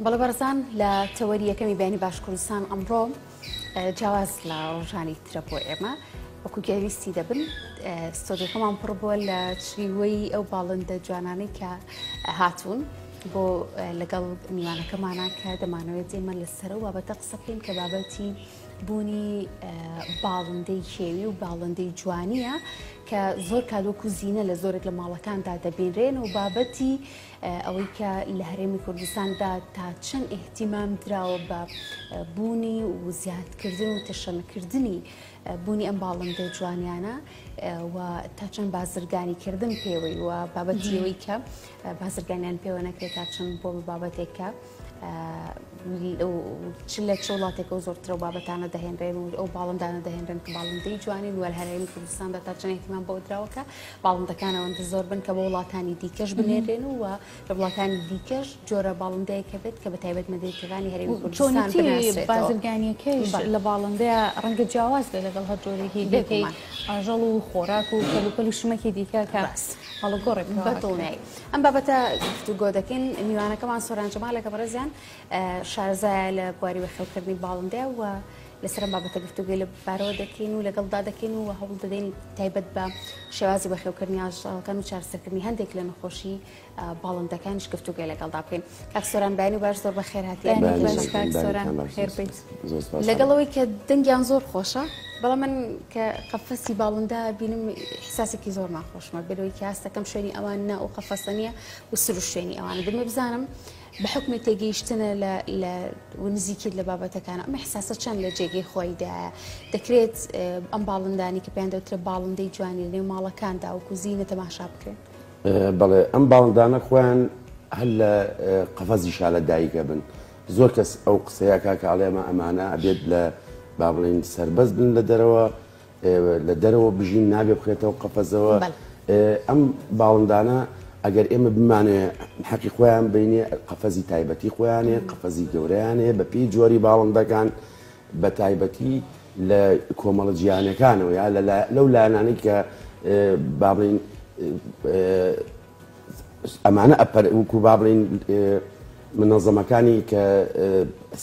بەڵێ بەرزان لە تەوەری یەکەمی بینی باش کوردستان ئەمڕۆ جیاواز لە ڕۆژانی ترە بۆ ئێمە وەکو گەویستی دەبن ستۆدیەکەمان پڕ بووە لە چریوەی ئەو باڵندە جوانانەی کە هاتوون بۆ لەگەڵ میوانەکەمانە کە دەمانەوێت ئێمە لەسەر و بابەتە قسە بکەین کە بابەتی بوونی باڵندەی کێوی و باڵندەی جوانیە کە زۆر کادۆک و زیینە لە زۆرێک لە ماڵەکاندا دەبینرێن و بابەتی ئەوەی کە لە هەرێمی کوردستاندا تا چەند ئیهتیمام دراوە بە بوونی و زیادکردن و تەشەنەکردنی بوونی ئەم باڵندە جوانیانە و تا چەند بازرگانیکردن پێوەی و بابەتیەوەی کە بازرگانیان پێوە نەکرێت تا چەند بۆ بە بابەتێکە. و چ لە چ وڵاتێکە و زۆرترە و بابەتانە دەهێنرێن و ئەو باڵندانە دەهێنرێن کە باڵندەی جوانی وەر هەرێمی کوردستاندا تا چەند احتیمام بۆ دراوەکە باڵندەکانەوەندە زۆر بن کە بۆ وڵاتانی دیکەش بنێرێن و لە وڵاتانی دیکەش جۆرە باڵندەیەکە بێت کە بە تایبەت مەدەیتەکانی هەرێمی کوردستان بازرگانیەکەیش لە باڵندەیە ڕەنگە جیاواز بێ لەگەڵ هەر جۆرێکی دێکەی ئاژەڵ و خۆراک و کەلوپەل و شمەکی دیکە کە هەڵگۆڕێک بە دڵنیایی. ئەم بابەتە گفتوگۆ دەکەین میوانەکەمان سۆران جەمالەکە بەڕێزیان شارزایە لە بواری وەخێوکردنی باڵندە و لەسەر بابەتە گفتوگوی لە بارەوە دەکەین و لەگەڵدا دەکەین و هەوڵ دەدەین تایبەت بە شێوازی وەخێوکردنی ئاژەڵەکان و چارسەرکردنی هەندێک لە نەخۆشی باڵندەکانیش گفتوگوی لەگەڵدا بکەین کاک سۆران بەیانی باش زۆر بە خێرهاتیان سۆران خێر بیت. زۆر سوپاس لەگەڵ ئەوەی کە دەنگیان زۆر خۆشە بەڵام من کە قەفەسی باڵندە بینم حساسێکی زۆر ناخۆشمە بەرەوەی کاسەکەم شوێنی ئەوان نا و قەفەسە نیە و سر و شوێنی ئەوانە دەمێ بزانم بە حکمی تێگەیشتنە لە نزیکیت لە بابەتەکان ئەمە حساسە چەند لە جێگەی خۆیدایە دەکرێت ئەم باڵندانی کە پێیان دەوترێت باڵندەی جوانی لەێ ماڵەکاندا و کوزینە تەماشا بکرێن بەڵێ ئەم باڵندانە خۆیان هەر لە قەفەزی شالە دایکە بن زۆر کەس ئەو قسەیە کاکە ئەڵێ ئەمە ئەمانە ئەبێت لە با بڵێین سەربەست بن لە دەرەوە لە دەرەوە بژین نابێ بخرێتەوە قەفەزەوە ئەم باڵندانە ئەگەر ئێمە بمانێ حەقی خۆیان بینێ قەفەزی تایبەتی خۆیانێ قەفەزی گەوریانێ بە پێی جۆری باڵندەکان بە تایبەتی لە کۆمەڵە جیانەکانەوە یا لەو لایەنانی کە بابلین ئەمانە ئەپەر وکو با بڵین منەزەمەکانی کە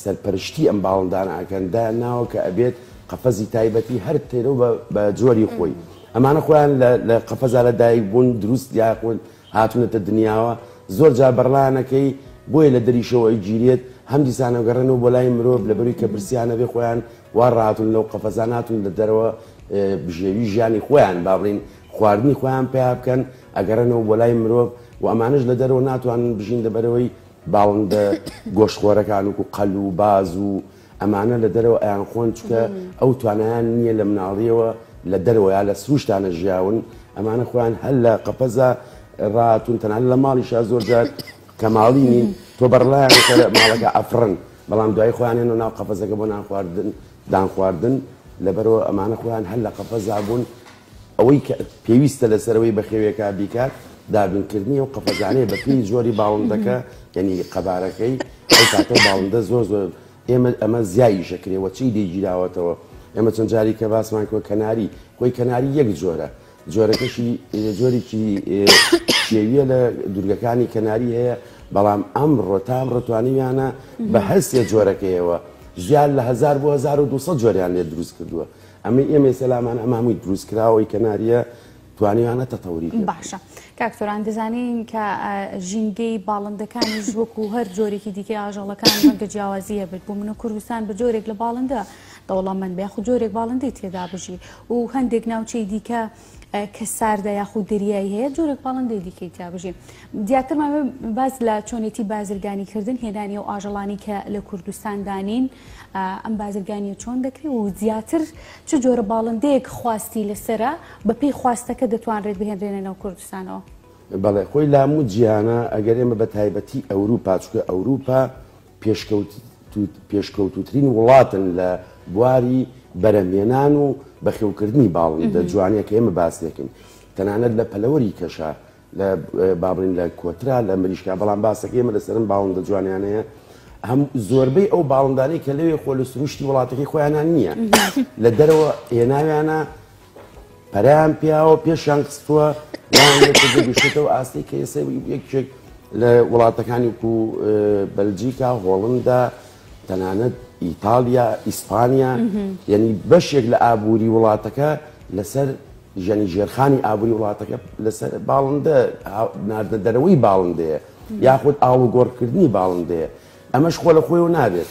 سەرپەرشتی ئەم باڵندان ئاکەن دا ناوە کە ئەبێت قەفەزی تایبەتی هەر تێرە و بە جۆری خۆی ئەمانە خۆیان لە قەفەزا لە دایک بوون دروست یاخود هاتونەتە دنیاوە زۆر جار بەڕلانەکەی بۆیە لە دەریشەوە گیرێت هەم دیسانەگەڕێن و بۆ لای مرۆڤ لە بەروی کە برسیانە بێ خۆیان وا ڕاتون لەو قەفەزاناتون لە دەرەوە بژێوی ژیانی خۆیان بابلین خواردنی خۆیان پەیا بکەن ئەگەڕێنەوە بۆ لای مرۆڤ و ئەمانەش لە دەرەوە ناتوانن بژین لەبەرەوەی باڵندە گۆشت خۆرەکان وکو قەل و باز و ئەمانە لە دەرەوە ئەیان خۆن چکە ئەو توانیان نییە لە مناڵیەوە لە دەرەوە یا لە سروشتانە ژیاون ئەمانە خۆیان هەر لە قەپەزا ڕاتون تەنان لە ماڵیشا زۆر جار کەماڵی نین تۆ بەڕڵایان ماڵەکە ئەفرن بەڵام دوای خۆیانێن و ناو قەپەزەکە بۆ نان خواردن دان خواردن لەبەرەوە ئەمانە خۆیان هەر لە قەپەزا بوون ئەوەی کە پێویستە لەسەر ئەوەی بەخێویەکە بیکات دابینکردنی ئەو قەفەزانەیە بە پێی جۆری باڵندەکە یعنی قەبارەکەی ئەو کاتە باڵندە زۆر زۆر ئێمە ئەمە زیایی شەکرێ وە چی دەیگیراوەتەوە ئێمە چەند جاری کە باسمان کۆ کەناری خۆی کەناری یەک جۆرە جۆرەکەشی جۆرێکی شێویە لە دوورگەکانی کەناری هەیە بەڵام ئەم ڕۆتام ڕتوانیانە بە هەستێ جۆرەکەیەوە زیاد لە 1920 جۆریان لێ دروست کردووە ئەمەی ئێمە ئێستا لامان ئەمە هەمووی دروستکراوەی کەنارییە توانیانە تەتەوری پێ باشە کاک سۆران دەزانین کە ژینگەی باڵندەکانیش وەکو هەر جۆرێکی دیکەی ئاژەڵەکان ڕەنگە جیاوازی هەبێت بۆ من و کوردستان بە جۆرێک لە باڵندە دەوڵەمەند بێ خو جۆرێک باڵندەی تێدا بژی و هەندێک ناوچەی دیکە کە ساردە یاخود دەریایی هەیە جۆرێک پاڵندەی دیکەی تیابژی دیاترمان باز لە چۆنێتی بازرگانی کردن هێنانی و ئاژەڵانی کە لە کوردستان دانین ئەم بازرگانی و چۆن دەکری و زیاتر چ جۆرە باڵندەیەک خواستی لەسرە بەپی خواستەکە دەتوانرێت بهێنرێنە ناو کوردستانەوە بەڵێ خۆی لام و جیهانە ئەگەر ئێمە بە تایبەتی ئەوروپا چکە ئەوروپا پێشکەوتووترین وڵاتن لە بواری بەرهەمهێنان و بەخێوکردنی باڵندە جوانەیە کە ئێمە باس دەکەین تەنانەت لە پەلەوەری کەشە لە بابلین لە کۆترا لە مریشکا بەڵام باسەکە ئێمە لەسەرم باڵندە جوانیانەیە هەم زۆربەی ئەو باڵندانەی کە لەوێ خۆ لە سروشتی وڵاتەکەی خۆیانان نییە لە دەرەوە هێناویانە پەرەیان پیاوە پێشیان خستووە گەشتێتەوە ئاستی کە ئێستا یەکێک لە وڵاتەکانی و بەلجیکا هۆڵندا تەنانەت ئیتالیا ئیسپانیا یعنی بەشێک لە ئابووری وڵاتەکە لەسەر ژەنی ژێرخانی ئابووری وڵاتەکە لەسەر باڵندە ناردە دەرەوەی باڵندەیە یاخود ئاڵوگۆڕکردنی باڵندەیە ئەمەش خۆ لە خۆی و نابێت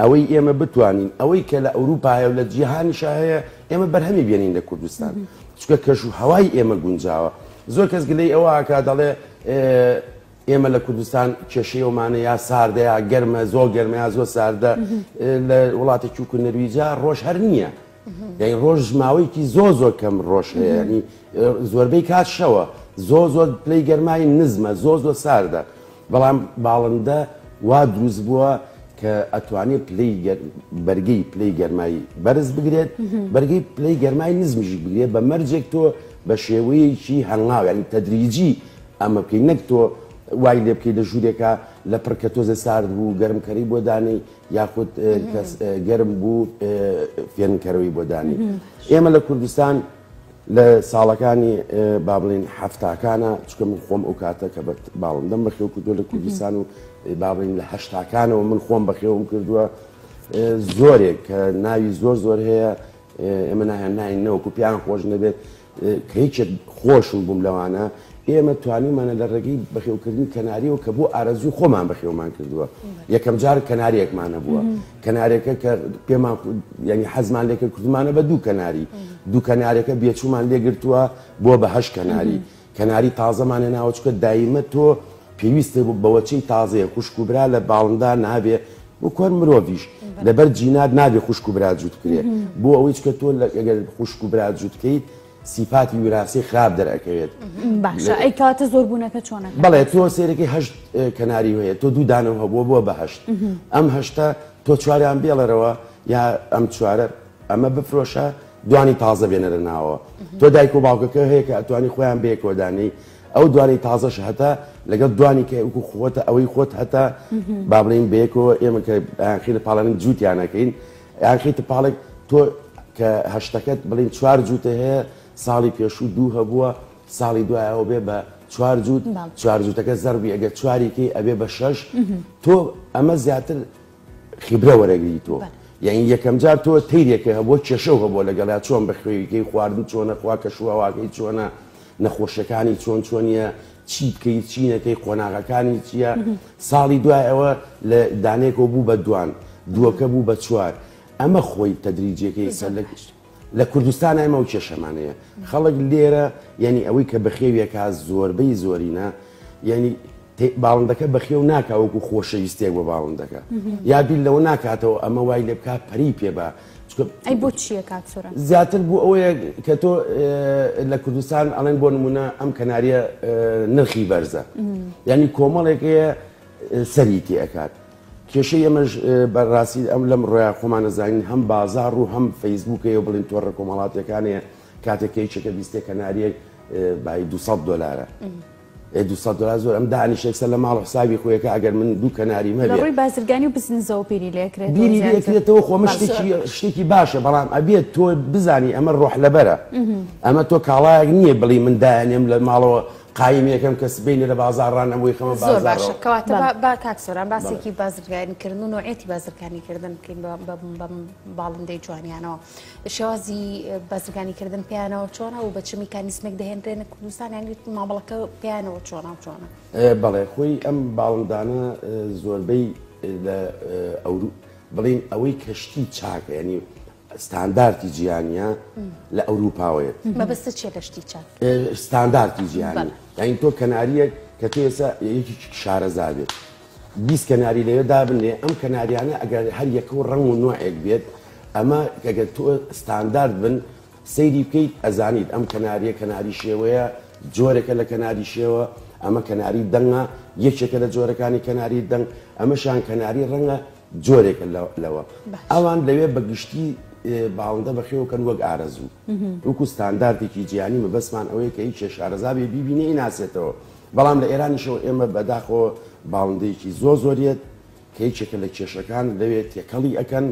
ئەوەی ئێمە بتوانین ئەوەی کە لە ئەوروپا هەیە و لە جیهانیشا هەیە ئێمە بەرهەمی بێنین لە کوردستان چونکە کەش و هەوای ئێمە گونجاوە زۆر کەس گلەی ئەوە ئەکا دەڵێ ئێمە لە کوردستان کێشەی ئەومانە یا ساردە یا گەرمە زۆر گەرمە یا زۆر ساردە لە وڵاتێکی وکو نەرویجا ڕۆژ هەر نییە یانی ڕۆژ ماوەیەکی زۆ زۆر کەم ڕۆژ هەیە ینی زۆربەی کات شەوە زۆ زۆر پلەی گەرمایی نزمە زۆ زۆ ساردە بەڵام باڵندە وا دروست بووە کە ئەتوانێت پلەی بەرگی پلەی گەرمایی بەرز بگرێت بەرگی پلەی گەرمای نزمژی بگرێت بە مەرجێک تۆ بە شێوەیەکی هەنگاویانی تەدریجی ئەمە بکەین نەک تۆ وای لێ بکەیت لە ژوورێکە لە پڕکە تۆزێ سارد بوو گەرمکەری بۆ دانەی یاخود کەس گەرم بوو فێنکەرەوەی بۆ دانی ئێمە لە کوردستان لە ساڵەکانی با بڵین هەفتاکانە چکە من خۆم ئەو کاتە کە بە باڵم دەم بەخێو کردو لە کوردستان و با بڵین لە هەشتاکانەوە من خۆم بەخێوم کردووە زۆرێک کە ناوی زۆر زۆر هەیە ئێمە نایان ناین نەوەکو پیان خۆش نەبێت کە یەکێک خۆشم بووم لەوانە، ئێمە توانیومانە لە ڕێگەی بەخێوکردنی کەناریەوە کە بۆ ئارەزووی خۆمان بەخێومان کردووە، یەکەم جار کەناریەکمان هەبووە، کەنارەکە کە پێمان ینی حەزمان لێکرد کردمانە بە دوو کەناری، دوو کەنارەکە بێچوومان لێگرتووە بۆ بە هەشت کەناری، کەناری تازەمان هێناوە چونکە دایمە تۆ پێویستت بەوەچەی تازەیە، خوشک و برا لە باڵندە نابێ، وەکو هەر مرۆڤیش لەبەر جینات نابێ خوشک و برا جووت بکرێ بۆ ئەوەی چکە تۆ لەگەر خوشک و برا جووت بکەیت سیفاتی وراسی خراپ دەرەکەوێت باشە ئەی کاتە زۆر بوونەکە چۆنە بەڵێ تۆ سێرەکەی هەشت کەناری هەیە تۆ دوو دانەوە هەبووە بووە بەهشت ئەم هەشتا تۆ چواریان بێڵەرەوە یا ئەم چوارە ئەمە بفرۆشە دوانی تازە بێنەرە ناوە تۆ دایک و باوکەکە هەیە کە ئەتوانی خۆیان بەیەکۆدانی ئەو دوانەی تازەش هەتا لەگەڵ دوانی کە وکو خۆتە ئەوەی خۆت هەتا با بڵین بەیەکەوە ئێمە کە خیرە پاڵێن جووتیانەکەین یاخیتە پاڵێک تۆ کە هەشتەکەت بڵین چوار جووتە هەیە ساڵی پێشوو دوو هەبووە ساڵی دوایەوە بێ بە چوار جووت چوار جووتەکە زەربی ئەگە چواریکەی ئەبێ بە شەش تۆ ئەمە زیاتر خیبرە وەرەگری تۆ یعنی یەکەم جار تۆ تیرێکە هەبووە کێشەو هەبووە لەگەڵا چۆن بە خوێویکەی خواردن چۆنە خوا کە شوواواکەی چۆنە نەخۆشەکانی چۆن چۆنیە چی بکەی چی نەکەی قۆناغەکانی چییە ساڵی دوای ئەوە لە دانێکەوە بوو بە دوان دووەکە بوو بە چوار ئەمە خۆی تەدریجیەکەی سەر لە گشت لە کوردستان ئەمە و کێشەمانەیە خەڵک لێرە یعنی ئەوەی کە بەخێویەکە زۆربەی زۆرینە یعنی باڵندەکە بەخێو ناکاوەکو خۆشەویستێک بە باڵندەکە یا بیل لەوە ناکاتەوە ئەمە وای لێ بک پەری پێ بە ئەی بۆ چییە کاتسورە زیاتر بوو ئەوەیە کە تۆ لە کوردستان ئەڵێن بۆ نمونە ئەم کەناریە نرخی بەرزە ینی کۆمەڵێکەیە سەری تێکات کێشە ئەمەش بەڕاستی ئەم لەم ڕۆیا خۆمانەزانین هەم بازار و هەم فەیسبووکەیە بڵین تۆڕە کۆمەڵاتەکانەیە کاتێکەیەکە بیستێک کەناریەک بای 200 دلارە ئێ دوو سەد دۆلار زۆرە ئەم دانیشێک سەر لە ماڵ و حسابی خۆیەکە ئەگەر من دوو کەناریم هەبێ لە ڕووی بازرگانی و بزنسەوە بیری لێ کرێتەوە زیاتر بیری لێ کرێتەوە خۆ ئەمە شتێکی شتێکی باشە بەڵام ئەبێت تۆ بزانی ئەمە ڕۆح لەبەرە ئەمە تۆ کاڵایەک نییە بڵی من دایانێم لە ماڵەوە قایم یەکەم کەس بینێ لە بازاڕان ئەم وی خەمە زۆر باشە کەواتە با کاک سۆران باسێکی بازرگانیکردن و نوعێتی بازرگانیکردن بکەین بە باڵندەی جوانیانەوە شێوازی بازرگانی کردن پێیانەوە چۆنە و بە چ میکانیسمێک دەهێنرێنە کوردستان یان مامەڵەکە پێیانەوە چۆنە چۆنە بەڵێ خۆی ئەم باڵندانە زۆربەی لە ئەورو بڵین ئەوەی کەشتی چاکە ینی ستاندارتی جیهانیە لە ئەوروپاوەیە مەبەستە چێ لەشتی چاک ستاندارتی جیهانی یاین تۆ کەناریەک کە تێسە یەکی شارەزا بێت بیست کەناری لەوێ دابنرێ ئەم کەناریانە ئەگەر هەر یەکە و ڕەنگ و نۆعێک بێت ئەمە گەگەر تۆ ستاندارد بن سەیری بکەیت ئەزانیت ئەم کەناریە کەناری شێوەیە جۆرێکە لە کەناری شێوە ئەمە کەناری دەنگە یەکێکە لە جۆرەکانی کەناری دەنگ ئەمەشان کەناری ڕەنگە جۆرێکە لەوە ئەوان لەوێ بە گشتی باڵندە بەخێوکەن وەک ئارەزوو وەکو ستاندارتێکی جیانی مەبەسمان ئەوەیە کە هیچ شارەزابێ بیبینێ ناسێتەوە بەڵام لە ئێرانیشەوە ئێمە بەداخەوە باڵندەیەکی زۆر زۆر یەت کە یەکێکە لە کێشەکان لەوێ تێکەڵی ئەکەن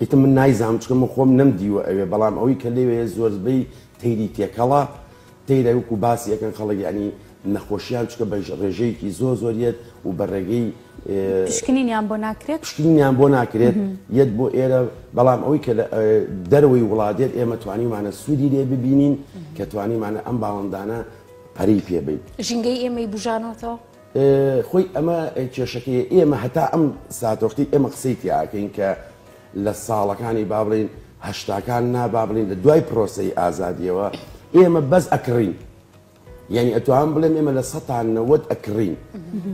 ئیتر من نایزانم چکە من خۆم نەم دیوە ئەوێ بەڵام ئەوەی کە لەوێ زۆربەی تەیری تێکەڵە تەیرە وکو باسی ئەەکەن خەڵک ینی نەخۆشیان چکە بە ڕێژەیەکی زۆر زۆر یەت و بە ڕێگەی پشکنینیان بۆ ناکرێت پشکنینیان بۆ ناکرێت یەت بۆ ئێرە بەڵام ئەوەی کە دەرەوەی وڵاتێت ئێمە توانیمانە سوودی لێ ببینین کە توانیمانە ئەم باڵندانە پەرەی پێ بەیت. ژینگەی ئێمەی بوژانۆتەوە. خۆی ئەمە کێشەکەی ئێمە هەتا ئەم ساتۆختی ئێمە قسەی تیاکەین کە لە ساڵەکانی با بڵین هەشتاکان نا با بڵین لە دوای پرۆسی ئازادیەوە ئێمە بەس ئەکڕین یعنی ئەتوان بڵێم ئێمە لە سەتان نەوەت ئەکڕین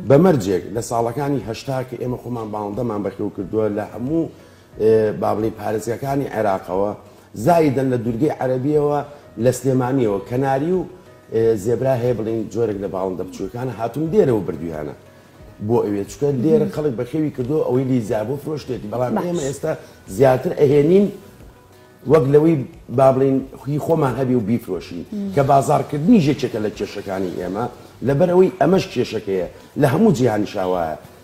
بەمەرجێک لە ساڵەکانی هەشتا کە ئێمە خۆمان باڵندەمان بەخێو کردووە لە هەموو بابڵی پارێزگاکانی عێراقەوە زایدەن لە دوورگەی عەرەبییەوە لە سلێمانییەوە کەناری و زێبرا هەیە بڵێین جۆرێک لە باڵندە بچووکانە هاتوون دێرەوە بردویانە بۆ ئەوێ چکە دێرە خەڵک بەخێوی کردو ئەوەی لیزا بۆ فرۆشتێتی بەڵام ئێمە ئێستا زیاتر ئەهێنین وەک لەوەی با بڵین خوی خۆمان هەبی و بیفرۆشین کە بازارکردنی ژێکێکە لە کێشەکانی ئێمە لەبەرەوەی ئەمەش کێشەکەیە لە هەموو جیهانی شاوایە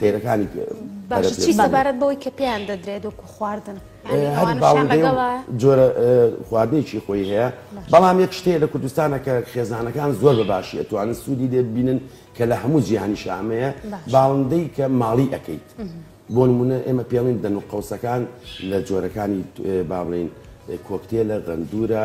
تێرەکانی باشە چی سەبارەت بەوەی کە پێیان دەدرێت وەکو خواردن جۆرە خواردنێکی خۆی هەیە بەڵام یەک شتەیە لە کوردستانە کە خێزانەکان زۆر بە باشی ئەتوانن سوودی لێ ببینن کە لە هەموو جیهانی شامەیە باڵندەی کە ماڵی ئەەکەیت بۆ نمونە ئێمە پێڵین دەن و قوسەکان لە جۆرەکانی با بڵین کۆکتێ لە غەندورە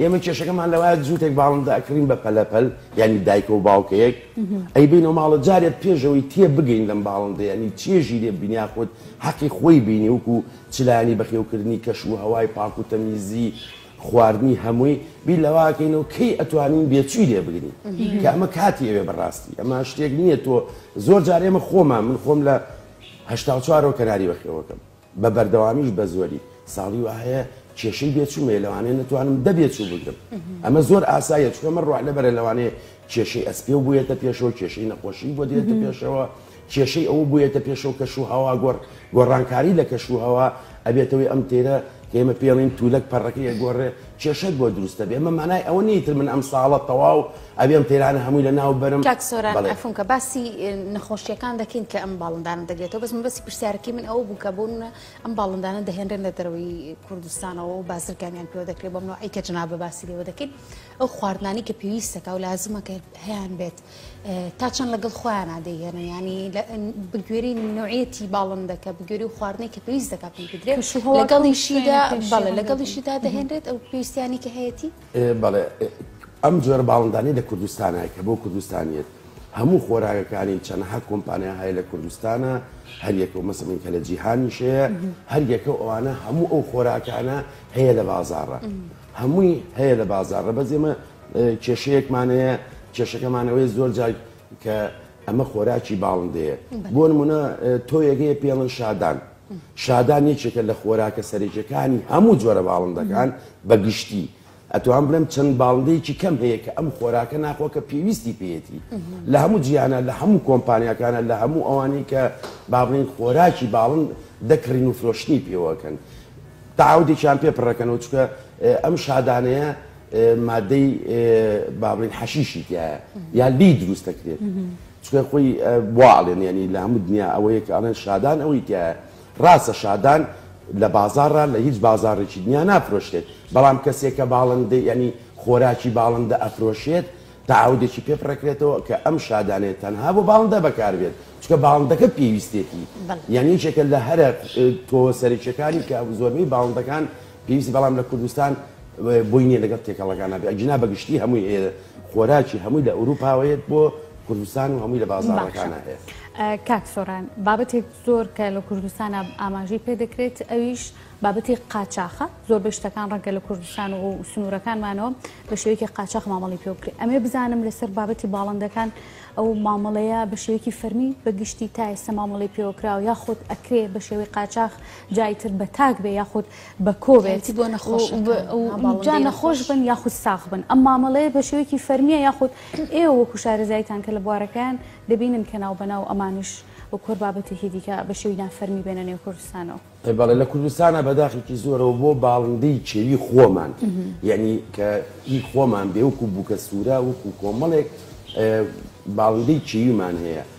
ئێمە کێشەکەمان لەوایە جووتێک باڵندە ئەکڕین بە پەلەپەل یعنی دایکە و باوکەیەک ئەی بینە و ماڵە جارێ پێشەوەی تێ بگەین لەم باڵندەیەنی چێژی لێ بینیا خۆت حەقی خۆی بینی وکو چلانی بەخێوکردنی کەش و هەوای پاک و تەمیزی خواردنی هەمووی بیر لەواکەینەوە کەی ئەتوانین بێچوی لێ بگرین کە ئەمە کاتی ئەوێ بەڕاستی ئەمە شتێک نییە تۆ زۆر جارێمە خۆمان من خۆم لە هەشتا و چوارەوە کەناری بەخێوەکەم بە بەردەوامیش بە زۆری ساڵی وا هەیە کێشەی بێچووم هەیە لەوانەیە نەتوانم دە بێچوو بگرم ئەمە زۆر ئاساییە چونکە من ڕۆحلە بەرە لەوانەیە کێشەی ئەسپێ و بوویەتە پێشەوە کێشەی نەخۆشی بۆ دێتە پێشەوە کێشەی ئەوە بوویەتە پێشەوە کەش و هەوا گۆڕ گۆڕانکاری لە کەش و هەوا ئەبێتەوەی ئەم تێرە کە ئێمە پێڵین تولەک پەڕەکەی گۆڕێ کێشەت بۆ دروستە بێ ئەمە مانای ئەوە نیتر من ئەم ساڵە تەواو ئەبێ ئەم تەیرانە هەمووی لە ناو بەرم. کاک سۆران عەفونکە باسی نەخۆشیەکان دەکەین کە ئەم باڵندانە دەگرێتەوە بەس مەبەسی پرسیارەکەی من ئەوە بوو کە بۆ منە ئەم باڵندانە دەهێنرێن لە دەرەوەی کوردستانەوە و بازرگانیان پێوە دەکرێت بەم نوعی کە جناب بە باسی لێوە دەکەین ئەو خواردنانی کە پێویستەکە و لازمە کە هەیان بێت تا چەند لەگەڵ خۆیان دەیهێنە ینی بگوێری نوعەتی باڵندەکە بگوێری و خواردنەی کە پێویست دەکات بدرێت لەگەڵیشیدا بەڵێ لەگەڵیشیدا دەهێنرێت ئەو پێویستیانی کە هەیەی بەڵێ ئەم جۆرە باڵندانەی لە کوردستانە کە بۆ کوردستانیت هەموو خۆراگەکانی چەنەها کۆمپانیا هەیە لە کوردستانە هەریەکە و مەسەمین کە لە جیهانیشەیە هەریەکە ئەوانە هەموو ئەو خۆراکانە هەیە لە بازارڕە هەمووی هەیە لە بازارڕە بەس ئێمە کێشەیەکمانەیە کێشەکەمانەوەی زۆر جار کە ئەمە خۆراکی باڵندەیە بۆ نمونە تۆیەگەی پێڵن شادان شادان یەکێکە لە خۆراکە سەرەکیەکانی هەموو جۆرە باڵندەکان بە گشتی ئەتوان بڵێم چەند باڵندەیەکی کەم هەیە کە ئەم خۆراکە ناخۆ کە پێویستی پێێتی لە هەموو جیانە لە هەموو کۆمپانیەکانە لە هەموو ئەوانی کە بابلین خۆراکی باڵند دەکڕین و فرۆشتنی پێوەکەن تاودێکیان پێ پڕەکەنەوە چکە ئەم شادانەیە مادەی بابلین حەشیشی تایە یا لی دروست دەکرێت چونکە خۆی وا ئەڵێن یانی لە هەموو دنیا ئەوەیە کە ئەڵێن شادان ئەوەی تیایە ڕاستە شادان لە بازاڕا لە هیچ بازاڕێکی دنیا نافرۆشرێت بەڵام کەسێک کە باڵندەی یانی خۆراکی باڵندە ئەفرۆشێت تەعاودێکی پێ بڕەکرێتەوە کە ئەم شادانەیە تەنها بۆ باڵندە بەکاربێت چونکە باڵندەکە پێویستێتی بەڵێ یانی یەکێکە لە هەرە تۆوە سەرەکیەکانی کە زۆربەی باڵندەکان پێویستی بەڵام لە کوردستان بۆی نیە لەگەڵ تێکەڵەکان نابێت ئەگینا بە گشتی هەمووی هەیە خۆراکی هەمووی لە ئەوروپاوەیەت بۆ کوردستان و هەمووی لە بازارەکانە هەیە کاک سۆران بابەتێک زۆر کە لە کوردستان ئاماژەی پێ دەکرێت ئەویش بابەتی قاچاخە زۆر بە شتەکان ڕەنگە لە کوردستان و سنوورەکانمانەوە بە شێوەیەکی قاچاخ مامەڵی پێ بکرێت ئەمێ بزانم لەسەر بابەتی باڵندەکان ئەو مامەڵەیە بە شێوەیەکی فەرمی بە گشتی تا ئێستا مامەڵی پێوەکراوە یا خۆت ئەکرێ بە شێوەی قاچاخ جای تر بە تاک بێ یاخود بە کۆ بێت جا نەخۆش بن یاخود ساغ بن ئەم مامەڵەیە بە شێوەیەکی فەرمیە یاخود ئێوە وەکو شارەزایتان کە لە بوارەکەیان دەبینن کە ناو بەناو ئەمانش و کۆر بابەتێکی دیکە بە شێوی نافەرمی بێنە نێو کوردستانەوە. ئەی بەڵێ لە کوردستانە بەداخێکی زۆرەوە بۆ باڵندەی کێوی خۆمان یعنی کە ئی خۆمان بێ وەکو بووکە سوورە وەکو کۆمەڵێک باڵندەی کێویمان هەیە.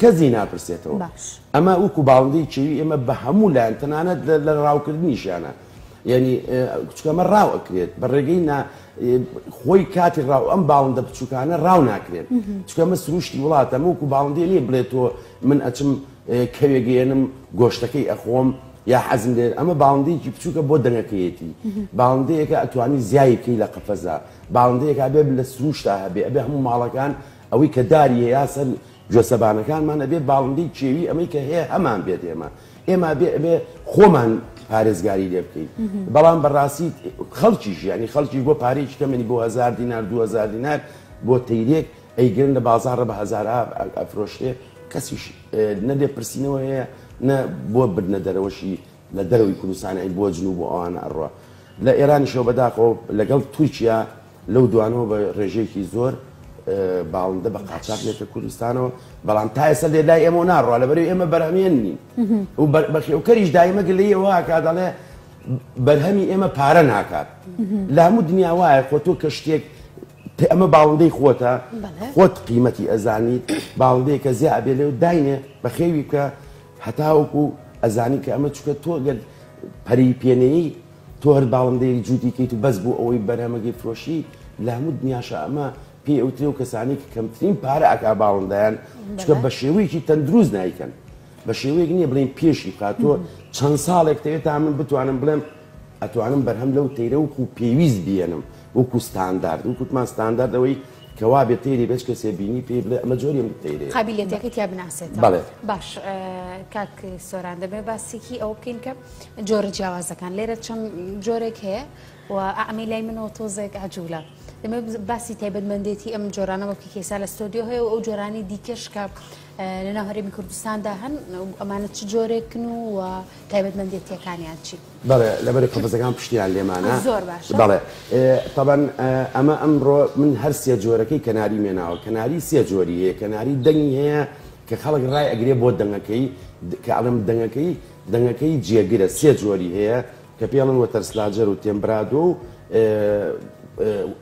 کەسی ناپرسێتەوە ئەمە وکو باڵندەی چێوی ئێمە بە هەموو لایەن تەنانەت لە ڕاوکردنیشیانە یعنی کچکەمە ڕاو ئەکرێت بە ڕێگەی خۆی کاتی ڕاو ئەم باڵندە بچووکانە ڕاو ناکرێت چکەمە سروشتی وڵاتە موکو باڵندێ نیە بڵێت تۆ من ئەچم کەوێگەێنم گۆشتەکەی ئەخۆم یا حەزم دێت ئەمە باڵندەیەکی بچووکە بۆ دەنگەکەیەتی باڵندەیەەکە ئەتوانی زیایکەی لە قەفەزە باڵندەیەکە بێ لە سروشتا هەبێ ئەبێ هەموو ماڵەکان ئەوەی کە داریە یا سەر گوێ سەبانەکانمان ئەبێ باڵندەی کێوی ئەمەی کە هەیە هەمان بێت ئێمە ئێمە بێ ئەبێ خۆمان پارێزگاری لێ بکەین بەڵام بەڕاستی خەڵکی ژیانی خەڵکی بۆ پارێکی کەمەنی بۆ هزار دینار دو هزار دینار بۆ تەیرێک ئەیگرن لە بازارڕە بە هزار ئەفرۆشتێ کەسیش نەبێ پرسینەوە هەیە نە بۆ بدنە دەرەوەشی لە دەرەوەی کوردستان ئەی بۆ جنوب بۆ ئەوانە ئەڕوا لە ئێرانیشەوە بەداخەوە لەگەڵ تورکیا لەو دوانەوە بە ڕێژەیەکی زۆر باڵندە بە قاچاق لێتە کوردستانەوە بەڵام تا ئێستا لێ لای ئێمە ناڕوا لە بەرەی ئێمە بەرهەمێن نین و بەخێوکەریش دایمە گلەیەوەکە دەڵێ بەرهەمی ئێمە پارە ناکات لە هەموو دنیا وایە خۆ تۆ کە شتێک ئەمە باڵندەی خۆتە خۆت قیمەتی ئەزانیت باڵندەیەکە زیابێ لێ و داینێ بەخێوی بکە هەتاوەکو ئەزانی کە ئەمە چوکە تۆ گەر پەری پێ نەیەی تۆ هەر باڵندەیەک جووتی کەیت و بەس بۆ ئەوەی بەرهەمەکەی فرۆشی لە هەموو دنیاشە ئەمە پێی ئەوترێ و کەسانی کە کەمترین پارە ئەکا باڵندەیان چکە بە شێوەیەکی تەندروست نیکەن بە شێوەیەک نییە بڵین پێشی بکات تۆ چەند ساڵێک دەوێت تا من بتوانم بڵێم ئەتوانم بەرهەم لەو تەیرە وکو پێویست بێنم وەکو ستاندارد و کوتمان ستانداردەوەی کە وابێ تەیرێ بێ چ کەسێ بینی پێی بڵێ ئەمە جۆری من تەیرەیە. قابیلیەتەکەی تیا بناسێتەوە. بەڵێ. باش کاک سۆران دەبێ باسێکی ئەوە بکەین کە جۆرە جیاوازەکان لێرە چەند جۆرێک هەیە و ئەعمی لای منەوە تۆزێک عجوولە. دەمێ باسی تایبەتمەندێتی ئەم جۆرانەوە کە کێسا لە ستۆدیۆ هەیە و ئەو جۆرانی دیکەش کە لەناو هەرێمی کوردستاندا هەن و ئەمانە چ جۆرێکن و و تایبەتمەندێتییەکانیان چین؟ بەڵێ لەبەرە قەفەزەکان پشتیان لێمانە زۆر باش بەڵێ تەبەن ئەمە ئەمڕۆ من هەر سێ جۆرەکەی کەناری مێناوە کەناری سێ جۆری هەیە کەناری دەنگی هەیە کە خەڵک ڕای ئەگرێ بۆ دەنگەکەی کە ئەڵم دەنگەکەی دەنگەکەی جێگرە سێ جۆری هەیە کە پێڵن وە تەرسلاجەر و تێمبرادۆ و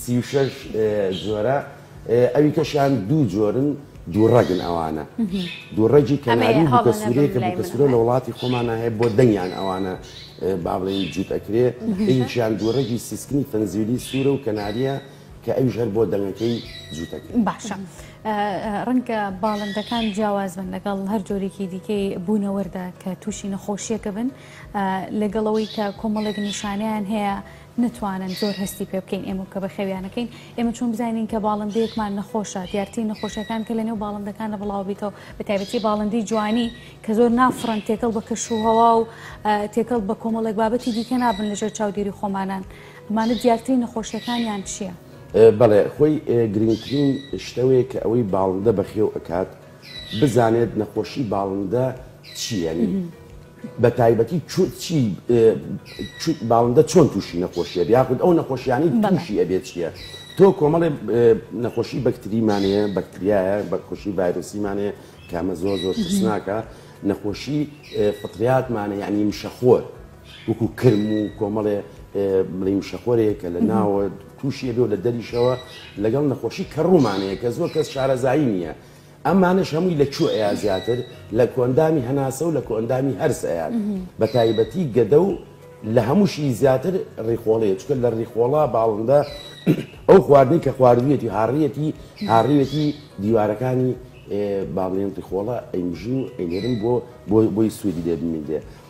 سی و شەش جۆرە ئەوی کەشیان دوو جۆرن دوو ڕەگن ئەوانە دوو ڕەگی کەناری بووکە سوورەیە کە بووکە سوورە لە وڵاتی خۆمانە هەیە بۆ دەنگیان ئەوانە با بڵێن جووت ئەکرێ ئەویشیان دوو ڕەگی سیسکنی فەنزیلی سوورە و کەناریە کە ئەویش هەر بۆ دەنگەکەی جووتەکە باشە ڕەنگە باڵندەکان جیاواز بن لەگەڵ هەر جۆرێکی دیکەی بوونەوەردا کە تووشی نەخۆشیەکە بن لەگەڵەوەی کە کۆمەڵێک نیشانیان هەیە نەتوانن زۆر هەستی پێ بکەین ئێمە کە بەخێویانەکەین ئێمە چۆن بزانین کە باڵندەیەکمان نەخۆشە دیارترین نەخۆشەکان کە لە نێو باڵندەکانە بڵاو بیتەوە بە تایبەتی باڵندی جوانی کە زۆر نافڕن تێکەڵ بە کەش و هەوا و تێکەڵ بە کۆمەڵێک بابەتی دیکە نابن لەژێر چاودێری خۆمانان ئەمانە دیارترین نەخۆشیەکانیان چییە؟ بەڵێ خۆی گرنگترین شتەوەیە کە ئەوەی باڵندە بەخێو ئەکات بزانێت نەخۆشی باڵندە چییە بە تایبەتی چوت چی چوت باڵندە چۆن تووشی نەخۆشیە یاخود ئەو نەخۆشیانی تووشی ئەبێت چیە تۆ کۆمەڵێ نەخۆشی بەکتریمانەیە بەکتریایە بەخۆشی ڤایرۆسیمانەیە کامە زۆر زۆر ترسناکە نەخۆشی فطریاتمانە یعنی مشەخۆر وەکو کرم و کۆمەڵێ بڵی مشەخۆرەیە کە لە ناوە تووشیە بێ لە دەریشەوە لەگەڵ نەخۆشی کە ڕوومانەیە کە زۆر کەس شارەزایی نییە ئەمانەش هەمووی لە چوو ئەیا زیاتر لە کۆئەندامی هەناسە و لە کۆئەندامی هەرس ئەیات بە تایبەتی گەدە و لە هەمووشی زیاتر ڕیخۆڵەیە چکە لە ڕیخۆڵە باڵندە ئەو خواردنی کە خواردویەتی هاڕیەتی هاڕیەتی دیوارەکانی باڵێن ڕیخۆڵە ئەیمژی و ئەینێرن بۆ بۆی سوودی لێ بمینێ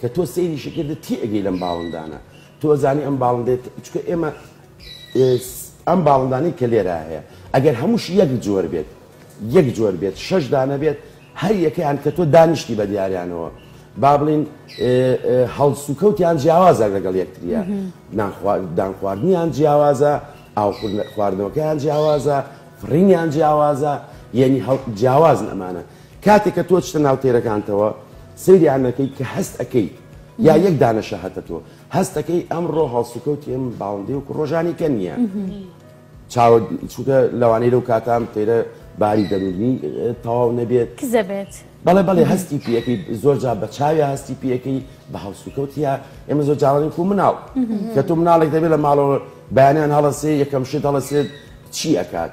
کە تۆ سەیریشی کردت تێ ئەگەی لەم باڵندانە تۆ ئەزانی ئەم باڵندەیە چکە ئێمە ئەم باڵندانەی کە لێرا هەیە ئەگەر هەمووش یەک جۆر بێت یەک جۆر بێت شەش دانە بێت هەر یەکەیان کە تۆ دانیشتی بە دیاریانەوە با بڵین هەڵسوکەوتیان جیاوازە لەگەڵ یەکتریە دان خواردنیان جیاوازە ئاو خواردنەوەکەیان جیاوازە فڕینیان جیاوازە یعنی جیاوازن ئەمانە کاتێک کە تۆ ئەچتە ناو تێرەکانتەوە سەیری ئەمە ئەکەیت کە هەست ئەکەیت یا یەک دانە شەهەتە تۆ هەست ئەکەی ئەمڕۆ هەڵسوکەوتی ئەم باڵندەی وەکو ڕۆژانی کە نییە چاوە چونکە لەوانەی لەو کاتان تێرە باری دەروونی تەواو نەبێت کزە بێت بەڵێ بەڵێ هەستی پێەکەی زۆر جا بە چاوی هەستی پێەکەی بە هەڵسوکەوتە ئێمە زۆر جاڵانی کو مناڵ کە تۆ مناڵێک دەبێت لە ماڵەوە بەیانیان هەڵەسێ یەکەم شت هەڵەسێت چی ئەکات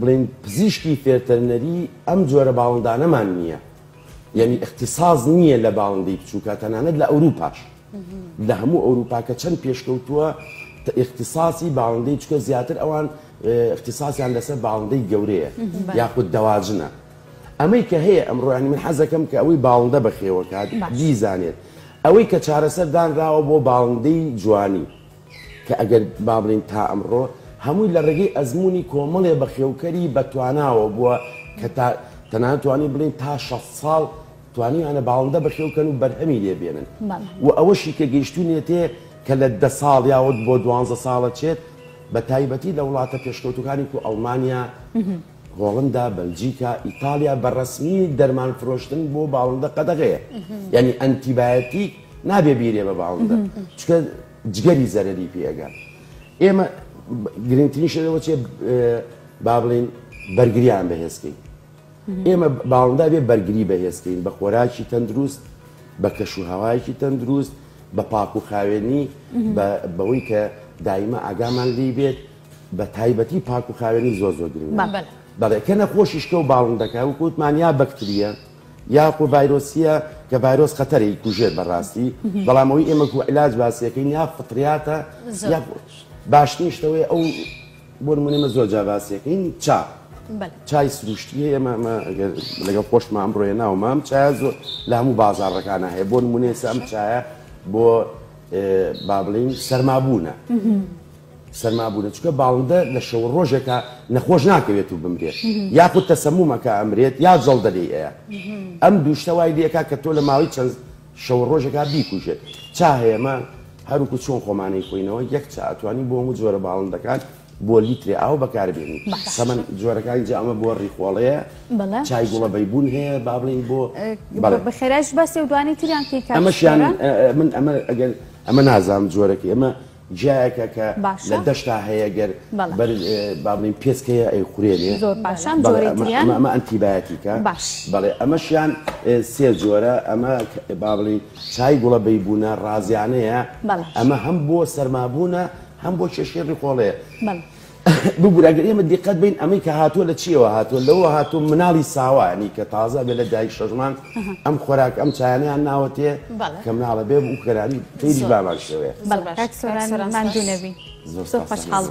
بڵێین پزیشکی فێرتەرنەری ئەم جۆرە باڵندانەمان نییە یعنی اختصاص نییە لە باڵندەی بچووکە تەنانەت لە ئەوروپاش لە هەموو ئەوروپاکە چەند پێشکەوتووە اختصاصی باڵندەی چکە زیاتر ئەوان اختصاسیان لەسەر باڵندەی گەورەیە یاخود دەواجنە ئەمەی کە هەیە ئەمڕۆیانی من حەزەکەم کە ئەوەی باڵندە بەخێوەکات بیزانێت ئەوەی کە چارەسەر دانراوە بۆ باڵندەی جوانی کە ئەگەر بابڵێین تا ئەمڕۆ هەمووی لە ڕێگەی ئەزموونی کۆمەڵێ بەخێوکەری بەتواناوە بووە کە تا تەنانەت توانین بڵێین تا شەست ساڵ توانیویانە باڵندە بەخێوکەن و بەرهەمی لێ بێنن و ئەوەشی کە گەیشتوونیەتێ کە لە دە ساڵ یاوەد بۆ دوانزە ساڵە چێت بە تایبەتی لە وڵاتە پێشکەوتووەکانی کو ئەڵمانیا، هۆڵندا، بەلجیکا، ئیتاڵیا بە ڕەسمی دەرمان فرۆشتن بۆ باڵندە قەدەغەیە یانی ئەنتیبایۆتیک. نابێ بیرێ بە باوندە چکە جگەری زەرری پێ ئەگا ئێمە گرنگترین شەوە چێ با بڵین بەرگریان بەهێزکەین ئێمە باڵندا بێ بەرگری بەهێزکەین بە خۆراکی تەندروست بە کەش و هەوایەکی تەندروست بە پاک و خاوێنی بەوەی کە دایمە ئاگامان لی بێت بە تایبەتی پاک و خاوێنی زۆ زۆ گرنگ بەڵێ کە نەخۆشیشکە و باڵندەکە و کووتمانیا بەکتریە یاخۆ ڤایرۆسیە کە ڤایرۆس خەتەرە ی کوژێت بە ڕاستی بەڵام ئەوی ئێمە گوو علاج باسیەکەین یا فطریاتە یا باشترین شتەوەی ئەو بۆ نمونە ئێمە زۆر جا باسیەکەین چا چای سروشتی هەیە ئێمە ئەمە ئەگەر لەگەڵ خۆشمان بڕۆیە ناو مام چای زۆر لە هەموو بازاڕەکانە هەیە بۆ نمونە ئێستا ئەم چایە بۆ با بڵێین سەرمابوونە سەرما بوونە چونکە باڵندە لە شەو و ڕۆژێکا نەخۆش ناکەوێت و بمرێت یاخود تەسەموم ئەکا ئەمرێت یا جەڵدە لێی ئەیا ئەم دوو شتە وای لێ ئەکا کە تۆ لە ماوەی چەند شەو و ڕۆژێکا بیکوژێت چا هەیە مە هەروکو چۆن خۆمان ئەیخۆینەوە یەک چا ئەتوانی بۆ هەموو جۆرە باڵندەکان بۆ لیترێ ئاو بەکاربێنی بەس تەمەن جۆرەکانی جا ئەمە بۆ ڕیخۆڵەیە بەڵێ چای گوڵە بەیبوون هەیە با بڵێین بۆ بەڵێ بە خێرایش باسی و دوانی تریان کەی کاک ئەمەشیان شێرە من ئەمە ئەگەر ئەمە نازانم جۆرەکەی ئەمە جیایەکە کە باشە لە دەشتا هەیە گەر بەڵێ بەر با بڵێین پێسکەیە ئەیخورێنێ زۆر باشە بەڵێ ئەم بەڵێ جۆرەی ئەمە تریان ئەمە ئەمە ئەنتیبایەتیکە باش بەڵێ ئەمەشیان ئێ سێ جۆرە ئەمە کە با بڵێین چای گوڵە بەیبوونە ڕازیانەیە بەڵێ ئەمە هەم بۆ سەرمابوونە هەم بۆ کێشەی ڕیخۆڵەیە بەڵێ. ببورە گەر ئێمە دیقەت بەین ئەمەی کە هاتووە لە چیەوە هاتووە لەوە هاتوو مناڵی ساوایانی کە تازە بێ لە دایک شەژمان ئەم خۆراک ئەم چایانیان ناوەتێ کە مناڵە بێ و کەرانی تری بامان شەوێ ماندوونەبی زۆر خۆشحاڵ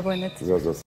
بووم